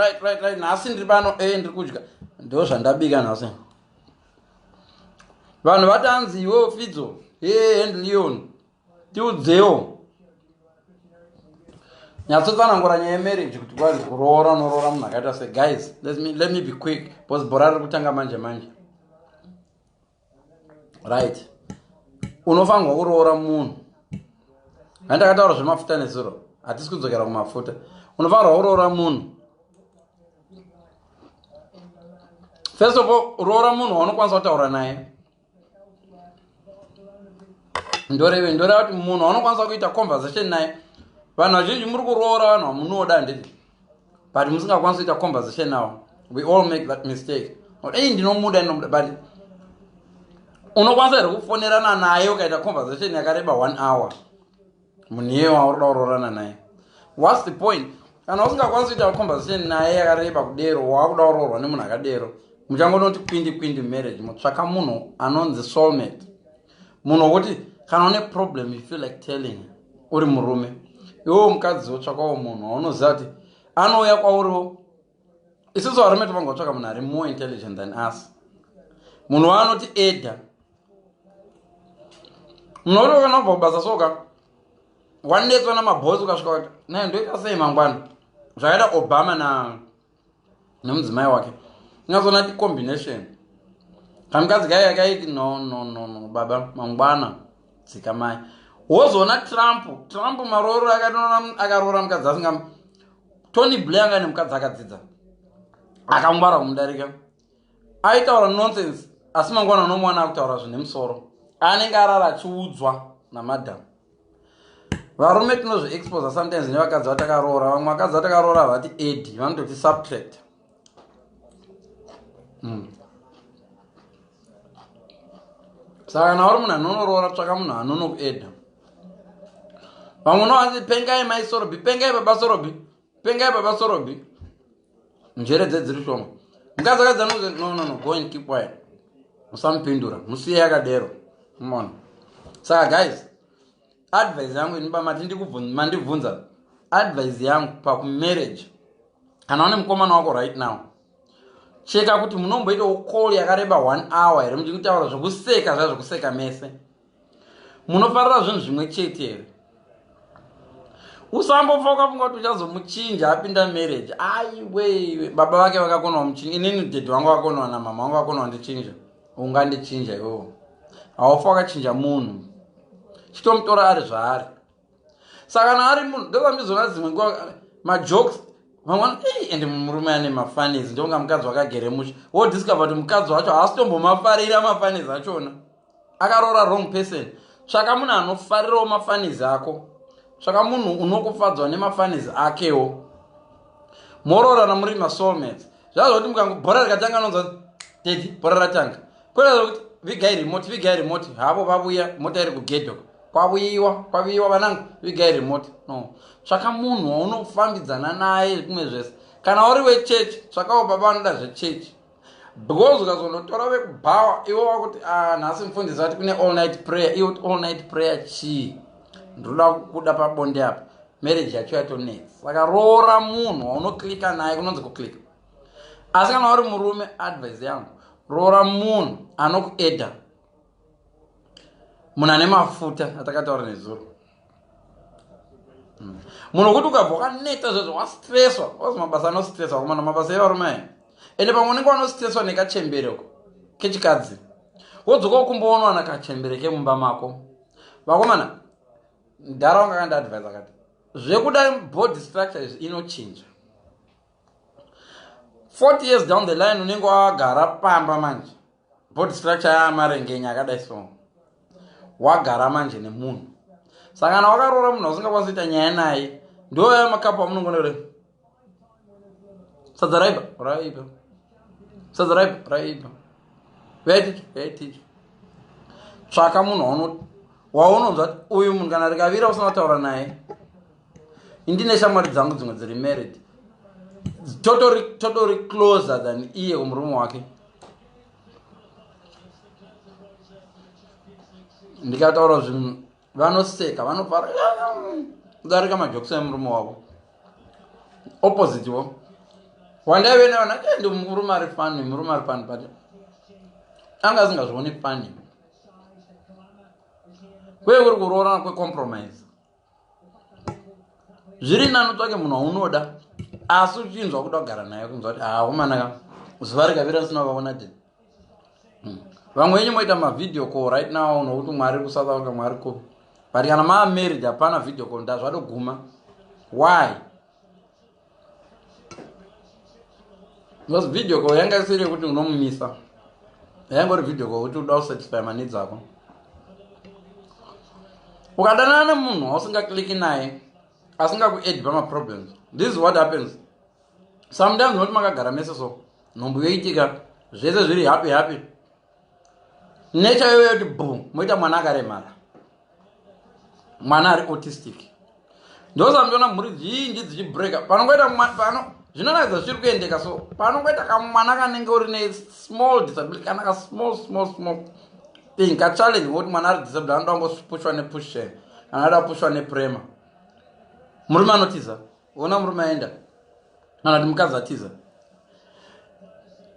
right right right nhasi ndiri pano e ndiri kudya ndo zvandabika nhasi vanhu vatanzi iwewo fidzo e and leon tiudzewo nyatsotsanangura nyaya yemarriage kuti kwazi kuroora unoroora munhu akaita se guys let me, let me be quick bcause bhora riri kutanga manje manje right unofanirwa kuroora munhu handakataura zvemafuta nezuro hatisi kudzokera kumafuta unofanirwa kuroora munhu first of all roora munhu waunokwanisa kutaura naye ndoreve ndoreva kuti munhu waunokwanisa kuita conversation naye vanhu vazhinji muri kuroora vanhu vamunoda handiti but musingakwanisi kuita conversation now we all make that mistake ei ndinomuda ndinomuda but unokwanisa here kufonerana naye ukaita conversation yakareba one hour munhu iye wauri kuda kuroorana naye whats the point kana usingakwanisi kuita conversation naye yakareba kudero waakuda kuroorwa nemunhu akadero muchangonoti kwindi kwindi marriage mutsvaka munhu anonzi soulmate munhu wokuti kana une problem you feel like telling uri murume iwewo mukadzi wotsvakawo munhu waunoziva kuti anouya kwauriwo isusu varume tovanga kutsvaka munhu ari more intelligent than us munhu waanoti eda munhu woti kana ubva kubasa soka wanetswa namabosi ukasvika kuti naye ndoita sei mangwana zvakaita obama na nemudzimai wake ingazoona ti combination kamukadzi kaiya kaiti no no no no baba mangwana dzikamai wozoona trump trump marooro akaroora mukadzi asinga tony blair anga nemukadzi akadzidza akangwara kumudarika aitaura nonsense asi mangwana unomuwana akutaura zvine musoro anenge arara achiudzwa namadam varume tinozviexposa sometimes nevakadzi vatakaroora vamwe vakadzi vatakaroora havati edi vanototi subtract mm. saka kana uri munhu anonoroora tsvaka munhu anonokueda vamwe unowanzi pengai maisorobi pengai baba sorobi pengai baba sorobi njere dze dziri shoma mukadzi akadza nokuti no no no go and keep quiet musamupindura musiye yakadero mona saka guys advice yangu ini bamati mandibvunza advice yangu pakumarriage kana une mukomana wako right now cheka kuti munomboitawo call yakareba one hour here muchikutaura zvekuseka zvazvekuseka mese munofarira zvinhu zvimwe chete here usambofa ukafunga kuti uchazomuchinja apinda marriage aiweiwe baba vake vakakonawa muchinja inini dhedhi wangu vakonawa namama wangu vakonawa ndichinja ungandichinja iwowo haufa wakachinja munhu chitomutora ari zvaari saka kana ari munhu ndovamizona dzimwe nguva majokes vamwana ei ende murume ane mafanis ndonga mukadzi wakagere musha wodiscover kuti mukadzi wacho haasitombomafarira mafanis achona akaroora wrong person tsvaka munhu anofarirawo mafanis ako tsvaka munhu unokufadzwa nemafanis akewo moroorana muri masoulmates zvazoti mukangobhora rikatanga anonzwa dedi bhora ratanga Kwelala kuti vigai remote vigai remote havo vavuya mota iri kugedhe uko kwavuyiwa kwavuyiwa vanangu vigai remote no tsvaka munhu waunofambidzana naye kumwe zvese kana uri wechechi tsvakawo baba vanoda zvechechi because ukazonotora vekubhawa iwe wakuti ah, nhasi mufundisi vati kune all night prayer iwe kuti all night prayer chii ndinoda kuda pabonde apa marriage yacho yatonetsa saka roora munhu waunoklika naye kunonzi kuklika asi kana uri murume advice yangu roora munhu anokueda munhu ane mafuta atakataura nezuro hmm. munhu wekuti ukabva wakaneta zvezvo wastreswa wazi mabasa anostreswa kumana mabasa evarume ayi ende pamwe unenge wanostreswa nekachembereko kechikadzi wodzoka ukumboona wana kachembere kemumba mako vakomana mdhara wanga kandiadvise akati zvekuda body structure izvi inochinja 40 years down the line unenge wagara pamba manje body structure yaamarengenya akadai so wagara manje nemunhu saka kana wakaroora munhu ausingakwanisi kuita nyaya naye ndoya makapu amunongona kure sadza raiba raiba sadza raiba raiba vaitiki vaitiki tsvaka munhu waunonzwa uyu munhu kana rikavira usina kutaura naye indine shamwari dzangu dzimwe dziri married totori totori closer than iye kumurume wake ndikataura zvinhu vanoseka vanofara kudarika majokisi emurume wavo opposite wo wandaive nevana eh, ndi murume ari fani murume ari fani but anga asingazvioni fani kwee kuri kuroorana kwecompromise zviri nani utsvake munhu waunoda asi uchinzwa kuda kugara naye kunzwa kuti haa umanaka zuva rikavira risina kuvaona te hmm. vamwe venyu moita mavhideo call right now nokuti mwari kusouth africa mwari kupi but kana maamarried hapana video call ndazvatoguma why Because video call yanga isiri yekuti unomumisa. Yangori video call kuti uda kusatisfy maneeds ako. Ukadanana nemunhu wausingacliki naye asingakuedi pamaproblems. This is what happens. Sometimes unoti makagara mese so nhumbu yoitika zvese zviri happy happy. nature yoyo yoti bhu moita mwana akaremara mwana ari autistic ndosandiona mhuri zhinji dzichibreaka panongoita pano zvinoratidza zvichiri kuendeka so panongoita kamwana kanenge uri ne small disability kana ka small small small thing kachallenge ngokuti mwana ari disability anoda kungopushwa nepusheni kana ada kupushwa neprema murume anotiza ona murume aenda kana kuti mukadzi atiza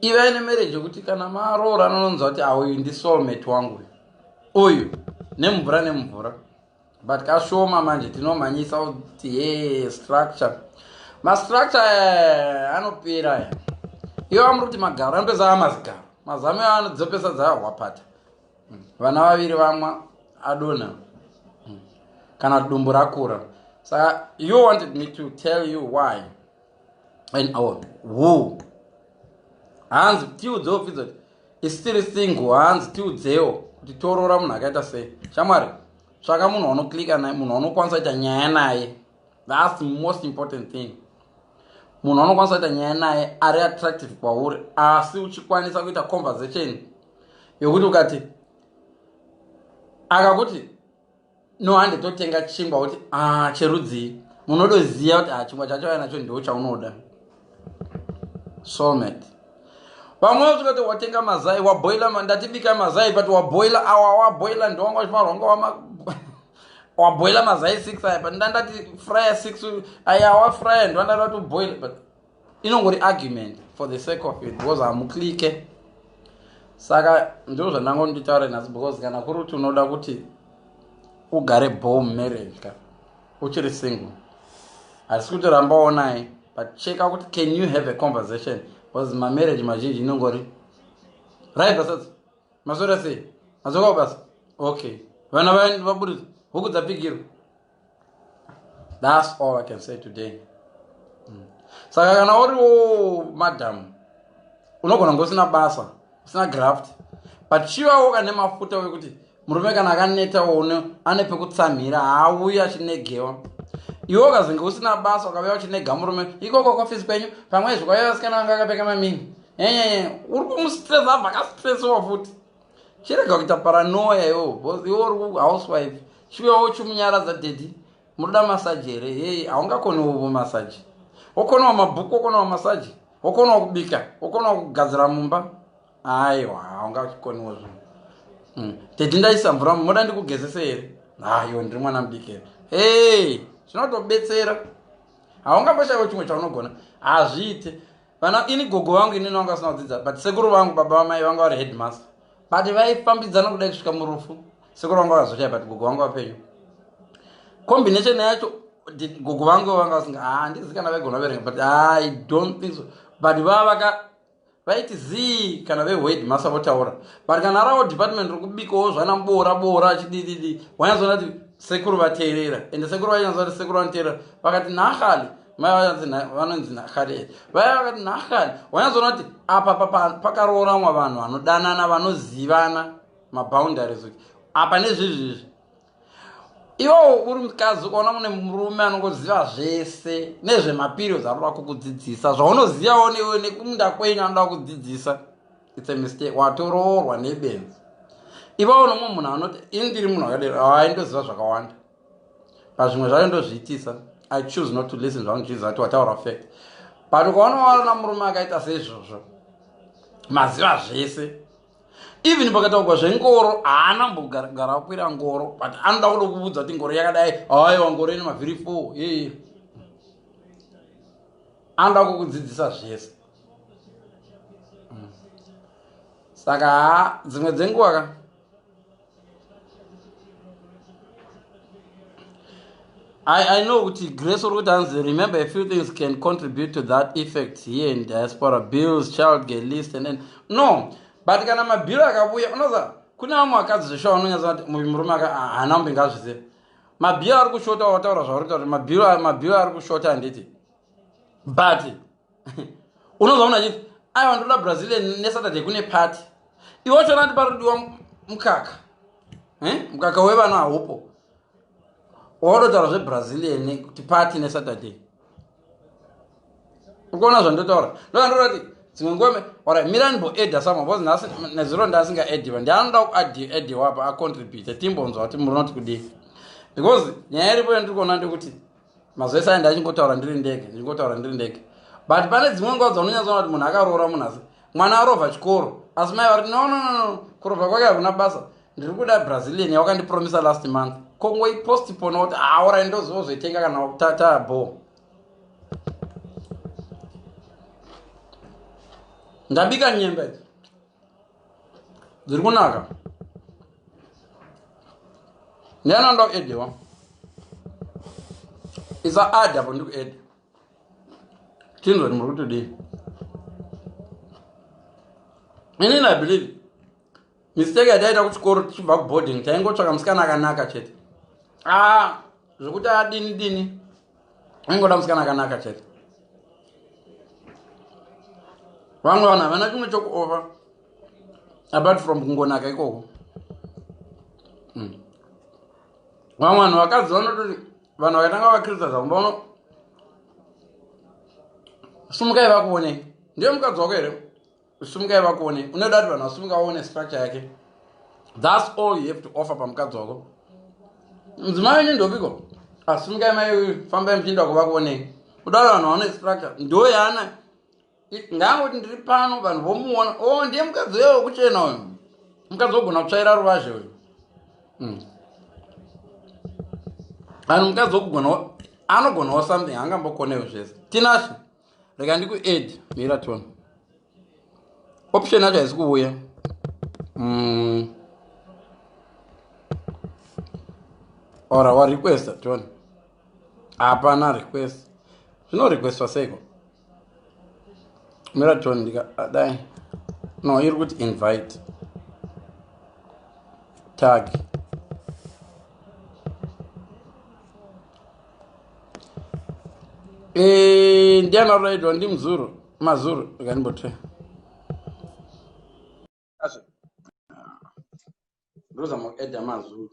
ivai nemereji yekuti kana maroora anononzwa kuti auyu ah, ndisolmate wangu uyu nemvura nemvura but kashoma manje tinomhanyisa kuti he structure mastructure eh, anopera aya iwo amuri kuti magaro anopesa amazigaro mazame anodzopesa dzahwapata vana vaviri vamwa adona kana dumbu rakura saka you wanted me to tell you why and our who hanzi tiudzewo pfidzo kuti isitiri single hanzi tiudzewo kuti toroora munhu akaita sei shamwari tsvaka munhu wanoklika naye munhu wanokwanisa kuita nyaya naye thats most important thing munhu wanokwanisa kuita nyaya naye ari attractive kwauri asi uchikwanisa kuita conversation yokuti ukati akakuti no hande totenga chingwa kuti ah, cherudzii munodoziva kuti ah, chingwa chachauya nacho ndo chaunoda somet vamwe vasvika kuti watenga mazai waboila ndatibika mazai but waboila awa waboila ndowanga chimarwanga wama waboila mazai six aya but ndandati fryer six aya wafryer ndwandati watoboila but inongori argument for the sake of it because hamuclike saka ndizvo zvandango nditaure nhasi because kana kuri kuti unoda kuti ugare bom marriage ka uchiri single hasi kuti ramba onai but checka kuti can you have a conversation because mamarriage mazhinji inongori right basats masora sei mazoka basa okay vana vaburitsa huku dzapigirwa thats all i can say today mm. saka kana uriwo madam unogona kunge usina basa usina graft but chivawo kane mafuta wekuti murume kana akaneta one ane pekutsamhira haauyi achinegewa iwe ukazenge usina basa ukavea uchinega murume ikoko kwafizi kwenyu pamwe izvo kwaiva vasikana vanga akapfeka mamini enyeye uri kumustresa abva akastresiwa futi chirega kuita paranoya iwo iwo housewife chiuyawo chimunyaradza dedi munoda masaji here hei haungakonewovo masaji wokonawo mabhuku wokonawo masaji wokonawo kubika wokonawo kugadzira mumba aiwa haungakoniwo zvinhu hmm. dedi ndaisa mvura mumoda ndikugezese here hayo ndiri mwana mudiki here hei zvinotobetsera haungamboshayiwo chimwe chaunogona hazviite vana ini gogo vangu inini vanga vasina kudzidza but sekuru vangu baba vamai vanga vari headmaster but vaifambidzana kudai kusvika murufu sekuru vangu vakazoshaya but gogo vangu vapenyu combination yacho gogo vangu vanga vasinga handizi ah, kana vaigona verenga but ah, i don't think so but vava vaka vaiti zii kana vehwed masa votaura but kana ravo department rokubikawo zvana boora boora achidididi wanyazoona kuti sekuru vateerera ende sekuru vachinyazoona kuti sekuru vanoteerera vakati nahali mai vanzi vanonzi nahari vaya vakati nahari wanyazoona kuti apa pakarooramwa vanhu vanodanana vanozivana maboundaries kuti apa nezvezvezvi iwowo uri mukadzi ukaona mune murume anongoziva zvese nezvemaperiods anoda kukudzidzisa zvaunozivawo newe nekumunda kwenyu anoda kukudzidzisa its a mistake watoroorwa nebenzi ivawo nomwe munhu anoti ini ndiri munhu akadero aindozviva zvakawanda pazvimwe zvayo ndozviitisa i choose not to listen zvangu jesus ati wataura fact but ukaona waona murume akaita seizvozvo maziva zvese even pakataugwa zvengoro haana mbogara akwira ngoro but anoda kuda kuvudza kuti ngoro yakadai haiwa ngoro ine mavhiri four ee anoda kukudzidzisa zvese mm. saka dzimwe dzenguva ka I, I know kuti grace uri kuti hanzi remember a few things can contribute to that effect here in diaspora bills child get list and then no but kana mabhiro akavuya unoza kune vamwe vakadzi zveshuwa vanonyatsa kuti muvi murume aka haana kumbe ngazvize mabhiro ari kushota wataura zvauri kuta kuti mabhiro mabhiro ari kushota handiti but unonzwa munhu achiti aiwa ndoda brazilian nesaturday kune party iwe wacho anati parudiwa mukaka eh? mukaka wevana haupo waodotaura zvebrazilian kuti party nesaturday ukuona zvandotaura ndoandorati dzimwe ngome ora miranbo eda samwe bcause nhasi nezuro ndasinga ediva ndianoda kuadiwa apa acontribute timbonzwa kuti murinoti kudii because nyaya iripo yandiri kuona ndekuti mazuva ese aenda achingotaura ndiri ndege ndichingotaura ndiri ndege but pane dzimwe nguva dzaunonyatsoona kuti munhu akaroora munhu asi mwana arova chikoro asi mai vari no no no kurova kwake hakuna basa ndiri kuda brazilian yawakandipromisa last month kongoipostipona kuti aora ah, ndozozoitenga kana tataa bo ndabika nyemba idzi dziri kunaka ndianoda kuedewa isa adha po ndikuede tinzwa ndi muri kutodii ini na believe mistake yataita kuchikoro tichibva kuboarding taingotsvaka musikana akanaka chete a ah, zvekuti adini dini aingoda musikana akanaka chete vamwe vanhu havana chimwe chokuova apart from kungonaka ikoko hmm. vamwe vanhu vakadzi vanototi vanhu vakatanga vakrista zvavo vaona sumukai vakuonei ndiye mukadzi wako here Sumukai vakuone. Unoda kuti vanhu vasumuka vaone structure yake. That's all you have to offer pamukadzi wako. Mudzimai wenyu ndopiko? Asumukai ah, mai uyu fambai muchienda kuva kuonei. Unoda kuti vanhu vaone structure. Ndo yaana. Ngangoti ndiri pano vanhu vomuona. Oh ndiye mukadzi uyo wekuchena uyu. Mukadzi wogona kutsvaira ruvazhe uyu. Hmm. Vanhu mukadzi wokugona anogonawo something angambokonewo zvese. Tinashe. rega ndikuadd miraton option yacho haizi kuuya mm. or wa requesta tione hapana request zvino requestwa seiko miraton ndikadai ah, no iri kuti invite tag Eh, ndiani aruraidwa ndimzuru mazuru rekanimbote ndozama kueda mazuru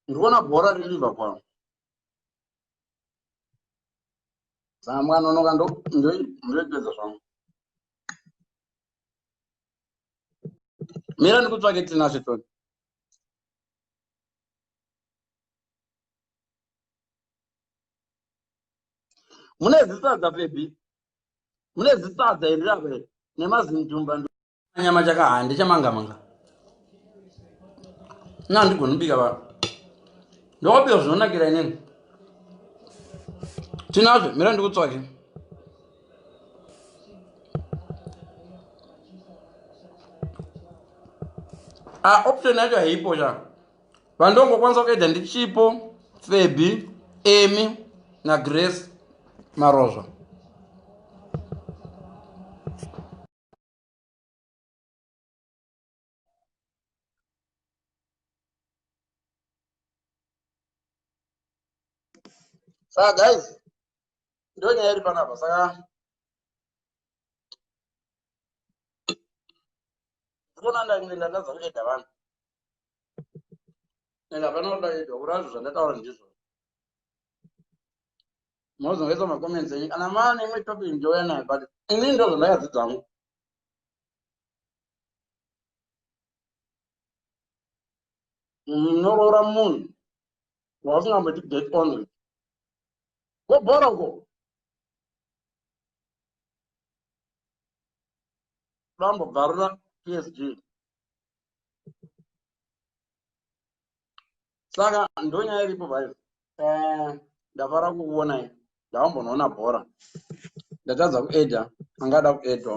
ndikuona bhora riliva kwavo zamwana unoka ndoipedza zvangu mira ndikutsvake tinashe toni mune zisadza bebi mune zisadza iri rapa iri nemazintumba nyama chakahaa ndichamangamanga na ndigoni kubika vanhu ndokubika zvinonakira inini tinazve mira ndikutsvake ah, option yacho haipo sha vandongokwanisa kuedha ndichipo febi emy nagrace marozva saka guys ndo nyaya iri panapa saka ndikona ndainge ndatadza kueda vanhu and hapana kuti ndaedwa kurazvo zvandataura ndizvo mozongaisa macomments enyu kana maa nemwe topic ndouya nayo but ini ndo zvandakadzidza hangu munoroora munhu wausingamboti get on with gobhora uko vambobvarura psg saka ndonyaya iripo bai eh, ndafara kukuonai ndavambonoona bhora ndatadza kuedha angada kuedhwa